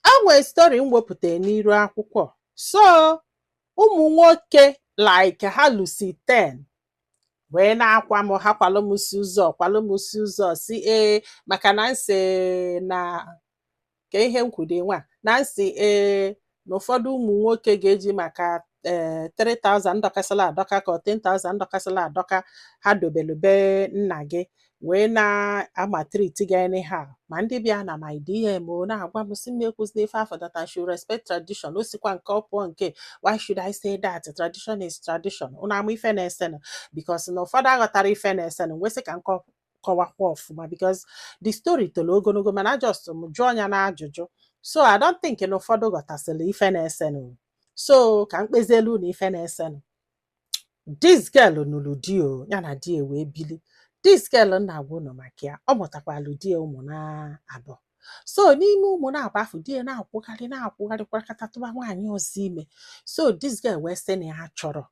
E nwere story m wepụtara n'iru akwụkwọ. So ụmụ nwoke like ha lusi 10 wee na-akwa m ha kwalụ m si ụzọ kwalụ m si ụzọ si ee maka na nsị na ka ihe m kwude nwa na nsị ee na ụfọdụ ụmụ nwoke ga-eji maka ee eh, 3000 dọkasịla adọka ka 10000 dọkasịla adọka ha dobelu be nna gị wee na-amaltreat gị anyhow ma ndị bịa na my DM o na-agwa m sị m ekwuzina ife afụ that I should respect tradition o sikwa nke ọ pụọ nke why should I say that tradition is tradition ụnụ ama ife na-esenụ because na ụfọdụ aghọtara ife na-esenụ nwesị ka nke kọwakwa ọfụma because the story tolo ogologo mana just m jụọ ya na ajụjụ so I don't think na ụfọdụ ghọtasịrị ife na-esenụ so ka m kpezielu unu ife na-esenụ this girl nụrụ di o ya na di ya wee bili this girl m na-agwa unu maka ya ọ mụtakwalụ di ya ụmụ naabọ so n'ime ụmụ naabọ afụ di ya na-akwụgharị na-akwụgharị kwakata tụba nwaanyị ọzọ ime so this girl wee sị na ya achọrọ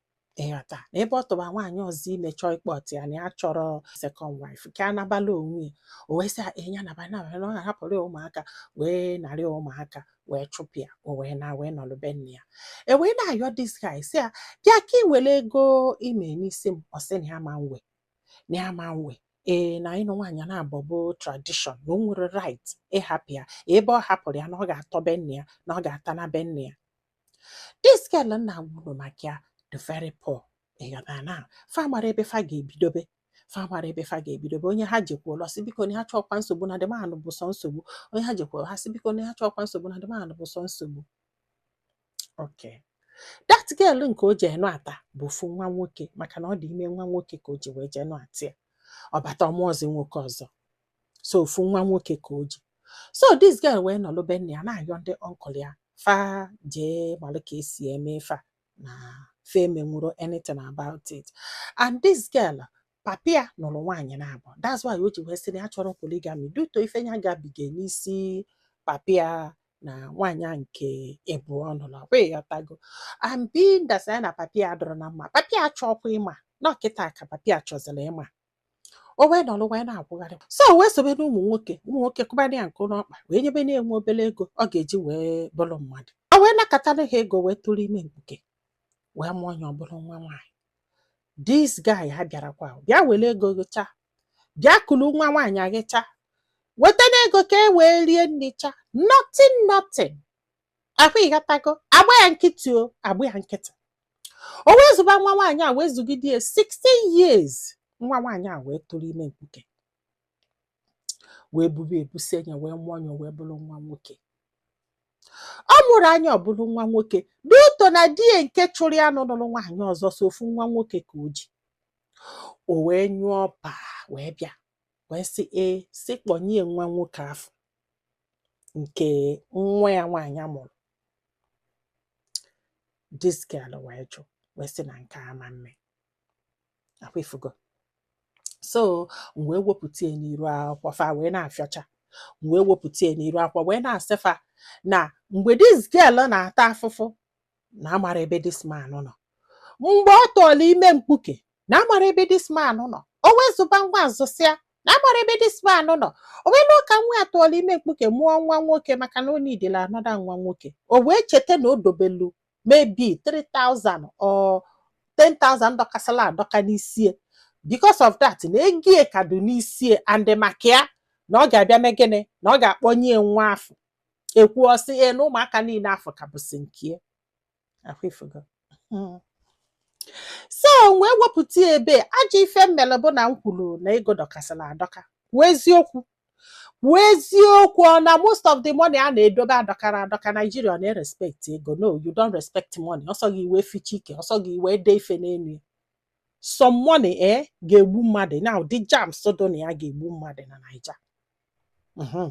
ịghọta na ebe ọ tụba nwaanyị ọzọ ime chọọ ịkpọta ya na ya achọrọ second wife ka ya nabala onwe ya o wee sị ya ee, ya naba naba na ọ ga-ahapụrụ ya ụmụaka wee narị ụmụaka wee chụpụ ya o wee naa wee nọrọ be nne ya e wee na-ayọ this guy sị ya bịa ka ị were ego i me n'isi m ọ sị na ya ama ewe na ya ama ewe ee na ịnụ nwaanyị naabọ bụ tradition na o nwere right ịhapụ ya ebe ọ hapụrụ ya na ọ ga-atọ be nne ya na ọ ga-ata na be nne ya this girl m na-agwa unu maka ya they are very poor ịghọta na fa amara ebe fa ga-ebidobe fa amara ebe fa ga-ebidobe onye ha jekwulu ọ sị biko na ha achọọkwa nsogbu na the man bụ sọ nsogbu onye ha jekwulu ha sị biko na ha achọọkwa nsogbu na the man bụ sọ nsogbu okay that girl nke o jee nụata bụ ofu nwa nwoke maka na ọ dị ime nwa nwoke ka o ji wee jee nụata ya ọ bata ọ mụọzi nwoke ọzọ so ofu nwa nwoke ka o ji so this girl wee nọlụ be nne ya na-ayọ ndị uncle ya fa jee malụ ka esi eme fa na fa emenwuro anything about it and this girl papa ya nụrụ nwaanyị naabọ that's why o ji wee sị na ya achọrọ polygamy due to ife ya gabiga n'isi papa ya na nwaanyị nke ịbụọ ọ nụrụ ọ kwa ị ghọtago and being that ya na papa ya adọrọ na mma papa ya achọọkwa ịma na ọ kịta ka papa ya chọziri ịma o wee nọrọ wee na-akwụgharị so o wee sobe n'ụmụ nwoke ụmụ nwoke kụbara ya nkụ n'ọkpa wee nyebe na-enwe obere ego ọ ga-eji wee bụrụ mmadụ o wee nakọtara ha ego wee tụrụ ime mkpuke wee mụọ ya ọ bụrụ nwa nwaanyị this guy abịarakwa bịa were ego gịcha bịa kuru nwa nwaanyị agịcha wetanụ ego ka e wee rie nri cha nothing nothing ọ kwa ị ghọtago agba ya nkịtị o agba ya nkịtị o wee zụba nwa nwaanyị a wee zụgide ya 16 years nwa nwaanyị a wee tụrụ ime mkpuke wee bube ebusịa nya wee mụọ nya wee bụrụ nwa nwoke ọ mụrụ nya ọ bụrụ nwa nwoke due to na di ya nke chụrụ ya nụnụrụ nwaanyị ọzọ sọ ofu nwa nwoke ka o ji o wee nyụọ pa wee bịa wee sị ee sị kpọnye ya nwa nwoke afụ nke nwa ya nwaanyị a mụrụ this girl wee jụ wee sị na nke a ama mme ọkwa ifugo so m wee wepụta ya n'iru akwụkwọ fa wee na-afịọcha m wee wepụta ya n'iru akwụkwọ wee na-asị fa na mgbe this girl na-ata afụfụ na amarọ ebe this man nọ mgbe ọ tụọla ime mkpuke na amarọ ebe this man nọ o wee zụba nwa a zụsịa na amarọ ebe this man nọ o wee luo ka nwa ya tụọla ime mkpuke mụọ nwa nwoke maka na o needili another nwa nwoke o wee cheta na o dobelu maybe 3000 or 10,000 dọkasịla adọka n'isie because of that na egie ka dị n'isie and maka ya na ọ ga-abịa mee gịnị na ọ ga-akpọnye nwa afụ ekwuo ọ sị ee na ụmụaka niile afụ ka bụsị nke ya ọkwa ifugo so m wee wepụta ya ebe ajọ ife m melu bụ na m kwuru na ego dọkasịrị adọka kwuo eziokwu kwuo eziokwu ọ na most of the money a na-edobe adọkara adọka Nigeria ọ na-erespect ego no you don't respect money ọ sọ gị i wee fichaa ike ọ sọ gị i wee dee ife n'elu ya some money eh ga-egbu mmadụ na the germs so na ya ga-egbu mmadụ na Naija Mhm.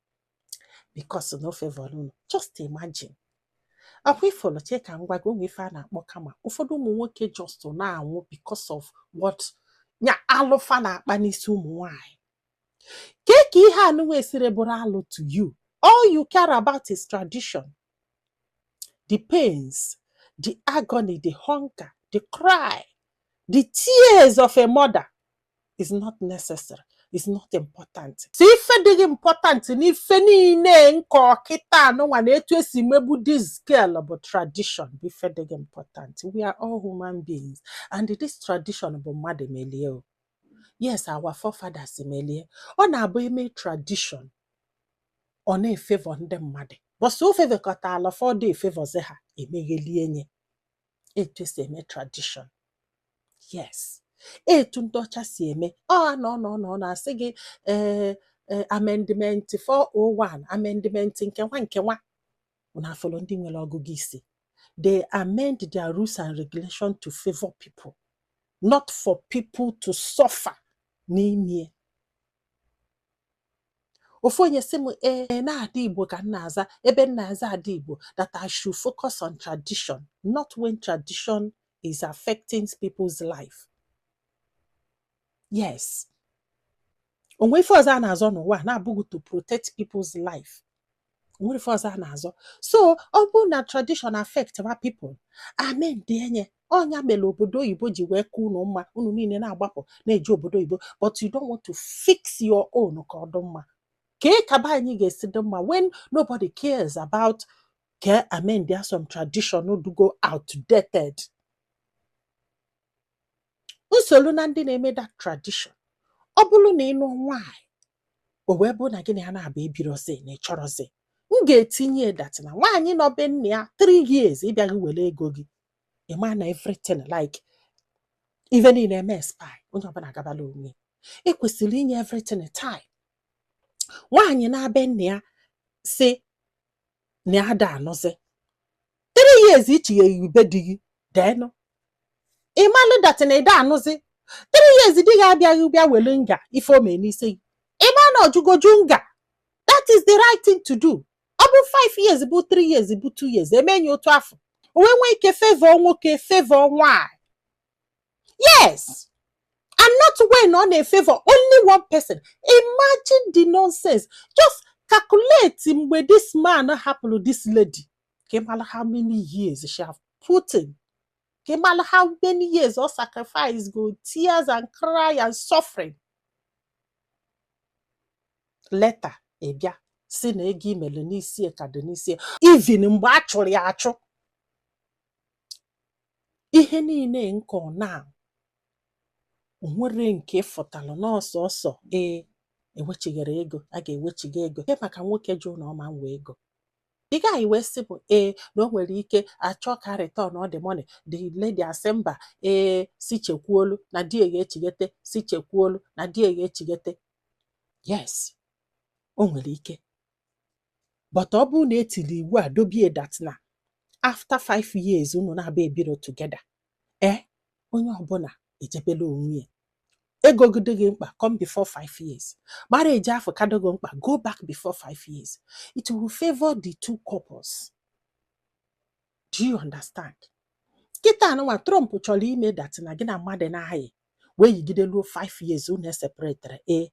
because na o favorọ unu just imagine ọkwa ifulu chee ka m gwa gị o nwe ife a na-akpọ karma ụfọdụ ụmụ nwoke just na-anwụ because of what nya alụ fa na-akpa n'isi ụmụ nwanyị kee ka ihe anụnwa esiri bụrụ alụ to you all you care about is tradition the pains the agony the hunger the cry the tears of a mother is not necessary is not important sọ ife dị gị important n'ife niile m kọ kịtaa nụnwa na etu esi megbu this girl bụ tradition bụ ife dị gị important we are all human beings and this tradition bụ mmadụ melie o yes our forefathers melie ọ na-abụ eme tradition ọ na-efavor ndị mmadụ but so ọ favorkọta ala fọdụ efavorzi ha emeghelie nye etu esi eme tradition yes etu ndị ọcha si eme ọ na ọ na ọ na ọ na-asị gị ee ee amendment 401 amendment nke nwa nke nwa unu afụrọ ndị nwere ọgụgụ isi they amend their rules and regulation to favor people not for people to suffer n'ime ofu onye sị m ee eh, na ada igbo ka m na-aza ebe m na-aza ada igbo that I should focus on tradition not when tradition is affecting people's life yes o nwe ife ọzọ a na-azọ n'ụwa na-abụghị to protect people's life nwere ife ọzọ a na-azọ so ọ bụrụ na tradition affect ma people amendịe nya ọ nya mere obodo oyibo ji wee ka unu mma unu niile na-agbapụ na-eje obodo oyibo but you don't want to fix your own ka ọ dị mma kee ka be anyị ga-esi dị mma when nobody cares about ka amendịa some tradition dịgo outdated m solu na ndị na-eme that tradition ọ bụrụ na ị nụọ nwaanyị o wee bụrụ na gị na ya naabọ ebirọzi na ị chọrọzi m ga-etinye ya that na nwaanyị nọọ be nna ya 3 years ị bịaghị were ego gị ị ma na everything like ife niile emee expire onye ọbụla agabala onwe ya. e kwesịrị inye everything time nwaanyị naa be nna ya sị na ya ada anụzi three years i chigheghị be di gị then ị malụ that na ị da anụzi three years di gị abịaghị bịa welu nga ife o mee n'isi gị ị ma na ọ jụgo ajụ nga that is the right thing to do ọ bụ five years bụ three years bụ two years e mee nya otu afọ o wee nwee ike favor nwoke favor nwaanyị yes and not when ọ na-efavor only one person imagine the nonsense just calculate mgbe this man hapụrụ this lady ka ị mara how many years she have put in ka ị mara how many years ọ sacrifice go tears and cry and suffering later ị bịa sị na ego i mere n'isi ya ka dị n'isi ya even mgbe a chụrụ ya achụ ihe niile nke ọ na o nwere nke fụtalụ n'ọsọ ọsọ ee e wechighara ego a ga-ewechigha ego maka nwoke jụ na ọ ma nwe ego ị gaghị wee sị mụ ee na o nwere ike a chọọ ka returnọ the money the lady asị mba ee sị chekwuolu na di ya ga-echighete sị chekwuolu na di ya ga-echighete yes o nwere ike but ọ bụrụ na e tiri iwu a dobie that na after 5 years unu naabọ ebirọ together e eh, onye ọbụla ejebela onwe ya ego gị dị gị mkpa come before five years marriage afụ ka dị gị mkpa go back before five years it will favor the two couples do you understand kịtaa nụnwa trump chọrọ ime that na gị na mmadụ na-ayị wee yigide luo 5 years unu eseparetere ee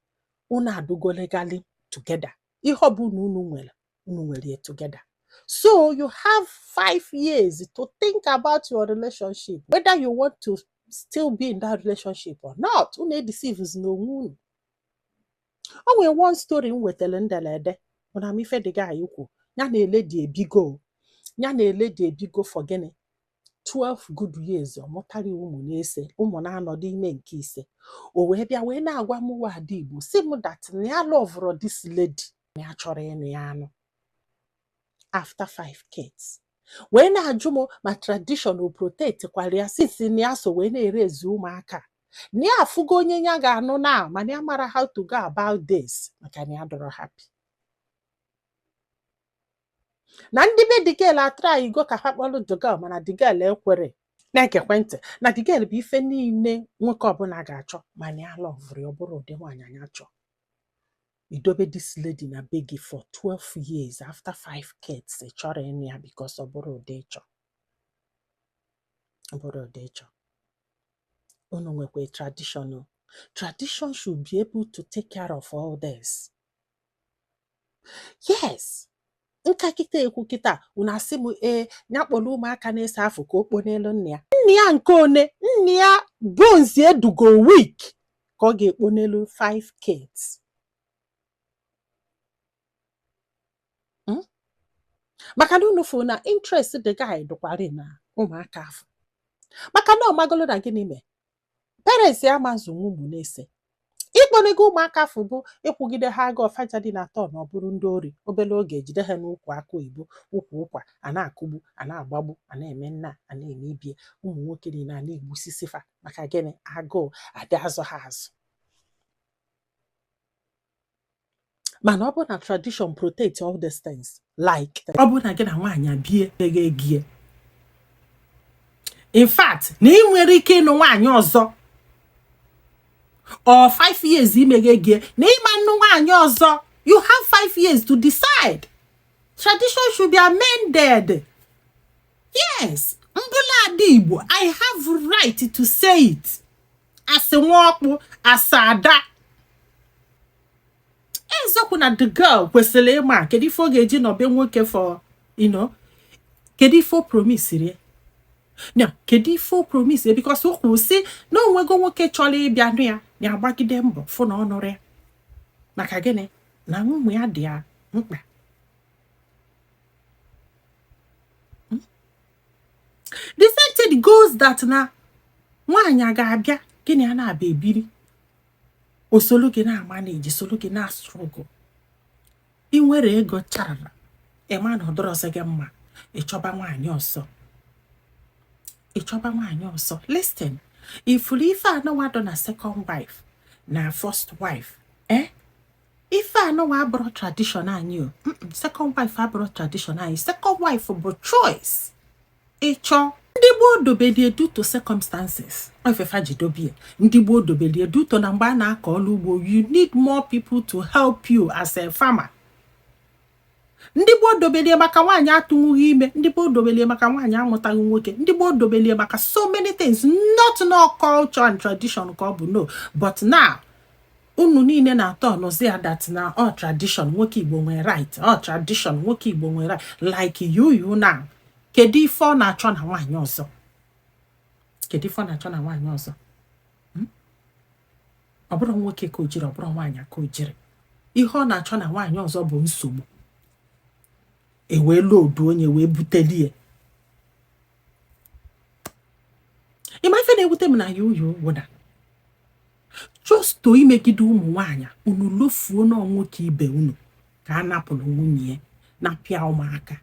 unu adụgo legally together ihe ọ bụla unu nwere unu nwere ya together so you have 5 years to think about your relationship whether you want to still be in that relationship or not unu edeceivezina onwe unu o nwere one story m wetara ndelede unu ma ife the guy na-ekwu ya na a lady ebigo ya na a lady ebigo for gịnị 12 good years ọ mụtara ụmụ n'ese ụmụ n'anọ dụ ime nke ise o wee bịa wee na-agwa m nwa ada igbo sị m that na ya alọvụrọ this lady na ya achọrọ ịnụ ya anụ after five kids wee na-ajụ m ma tradition o protect kwara ya since na ya so wee na-eraise ụmụaka na ya afụgo onye ya ga-anụ na mana ya amarọ how to go about this maka na ya adụrọ happy na ndị be the girl atraịgo ka fa kpọrọ the girl mana the girl ekwero na-egekwa ntị na the girl bụ ife niile nwoke ọbụla ga-achọ mana ya alọvụrọ ya ọ bụrọ ụdị nwaanyị ya chọ i dobe this lady na be gị for 12 years after 5 kids ị chọrọ ịnụ ya because ọ bụrọ ụdị ị chọ ọ bụrọ ụdị ị chọ unu nwekwa traditional tradition should be able to take care of all this yes nka kịta ekwu kịta unu asị m ee ya kpọrọ ụmụaka n'ese afụ ka o kpo n'elu nne ya nne ya nke one nne ya bones adụgo weak ka ọ ga-ekpo n'elu 5 kids maka na unu fụ na interest the guy dụkwara na ụmụaka afụ maka na ọ magolo na gịnị mee parents ya ama azụnwu ụmụ n'ese ikponego ụmụaka afụ bụ ịkwụgide ha agụụ fa aja dị na turn ọ bụrụ ndị ori obere oge e jide ha n'ukwu akụ oyibo ukwu ụkwa a na-akụgbu a na-agbagbu a na-eme nnaa a na-eme ibie ụmụ nwoke niile a na-egbusisi fa maka gịnị agụụ adị azụ ha azụ mana ọ bụrụ na tradition protect all these things like ọ bụrụ na gị na nwaanyị abie eghe egie in fact na ị nwere ike ịnụ nwaanyị ọzọ or five years imeghe egie na ị ma anụ nwaanyị ọzọ you have five years to decide tradition should be amended yes m bụ nwa ada igbo i have right to say it as nwa ọkpụ as ada eziokwu na the girl kwesịrị ịma kedu ife ọ ga-eji nọ be nwoke for you know kedu ife o promisiri ya na kedu ife o promise because o kwuru sị na o nwego nwoke chọrọ ịbịa nụ ya ya agbagide mbọ fụ na ọ nụrọ ya maka gịnị na ụmụ ya dị ya mkpa the same thing goes that na nwaanyị a ga-abịa gị na ya na-abịa ebiri o solu gị na-manage solu gị na-struggle ị nwere ego charara ị ma na ọ dụrọzi gị mma ị chọba nwaanyị ọzọ ị chọba nwaanyị ọzọ listen ị fụrụ ife anụwa dụ na second wife na first wife eh ife anụwa abụrọ tradition anyị o second wife abụrọ tradition anyị second wife bụ choice ị chọọ ndị gboo dobelie due to circumstances ọ ife fa ji dobie ndị gboo dobelie due to na mgbe a na-akọ ọrụ ugbo you need more people to help you as a farmer ndị gboo dobelie maka nwaanyị atụnwughị ime ndị gboo dobelie maka nwaanyị amụtaghị nwoke ndị gboo dobelie maka so many things not na ọ culture and tradition ka ọ bụ no but now unu niile na-aturnụzi ya that na ọ tradition nwoke igbo nwere right ọ tradition nwoke igbo nwere right like Yul now kedu ife ọ na-achọ na nwaanyị ọzọ kedu ife ọ na-achọ na nwaanyị ọzọ ọ bụrụ nwoke ka o jiri ọ bụrụ nwaanyị ka o jiri ihe ọ na-achọ na nwaanyị ọzọ bụ nsogbu ewee loodu onye wee buteli ya ị ma ife na-ewute m na ya ọ wụ that just to imegide ụmụ nwaanyị unu lofuo na nwoke ibe unu ka a napụrụ nwunye ya napụ ya ụmụaka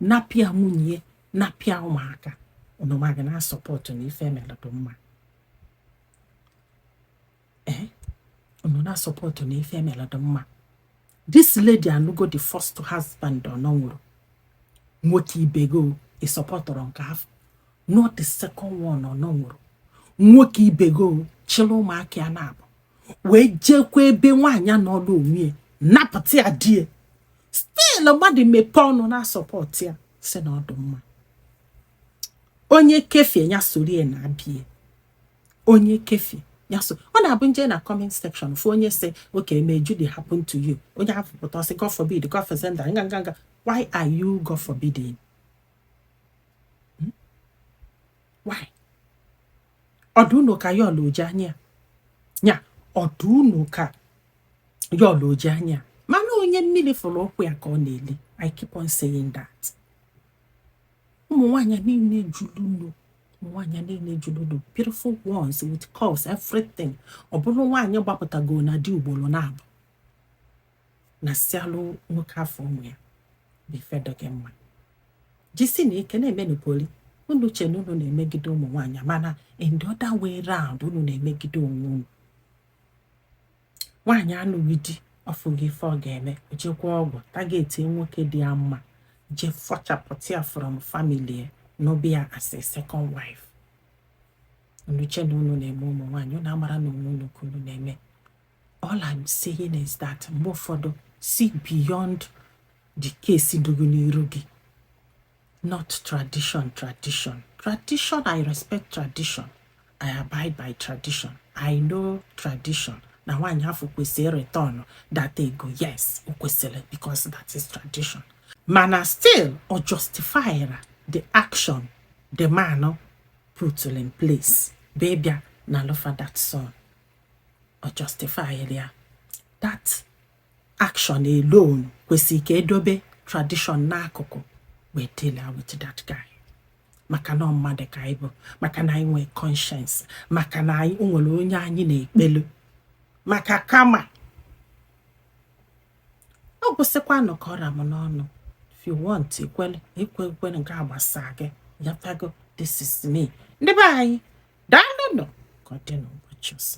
napụ ya nwunye napụ ya ụmụaka unu ma ga na-support na ife e mere dụ mma ee unu na-support na ife e mere dụ mma this lady anụgo the first husband ọ na ọ wụrọ nwoke ibe gị ị supportụrụ nke afụ not the second one ọ na ọ wụrọ nwoke ibe gị chịrị ụmụaka ya naabọ wee jekwa ebe nwaanyị nọọlụ onwe ya napụta ya di ya still mmadụ mepee ọnụ na-support ya sị na ọ dụ mma onye kefie ya sorie na abie onye kefie ya so ọ na-abụ m je na comment section fụ onye sị okay may Judy happen to you onye ahụ pụta sị God forbid God forbid nga nga nga why are you God forbidding hmm? why ọ dụ unu ka Yul o ji anya ya ọ dụ unu ka Yul o ji anya mana onye mmiri fụrụ ụkwụ ya ka ọ na-eli i keep on saying that ụmụ nwaanyị niile juru nnu nwaanyị niile juru nnu beautiful ones with curves everything ọ bụrụ nwaanyị gbapụtago na di ugboro naabọ nasịalụ nwoke afụ ụmụ ya bụ ife dụ gị mma jisinụ ike na-emenụ poli unu che na unu na-emegide ụmụ nwaanyị mana in the other way round unu na-emegide onwe unu nwaanyị anụghị di ọfụghị ife ọ ga-eme o jekwa ọgwụ tageti nwoke dị ya mma je fọchapụta ya from family ya n'ọbịa as a second wife unu che na unu na-eme ụmụ nwaanyị unu amarọ na onwe unu ka unu na-eme all I'm saying is that mgbe ụfọdụ see beyond the case dụ gị n'iru gị not tradition tradition tradition i respect tradition i abide by tradition i know tradition na nwaanyị afụ kwesịrị return that ego yes o kwesịrị because that is tradition mana still o justifyrọ the action the man put in place bụ ịbịa nalụ fa that son o justifyrọ ya that Action alone kwesịrị ka e dobe tradition n'akụkụ wee deal with that guy maka na mmadụ ka anyị bụ maka na anyị nwee conscience maka na anyị nwere onye anyị na-ekpelu maka kama ọ gwụsịkwanụ ka ọ ra m n'ọnụ if you want ekwele ekwe ekwele nke a gbasa gị yatago this is me ndị be anyị daalụ nụ ka ọ dị n'ụbọchị ọzọ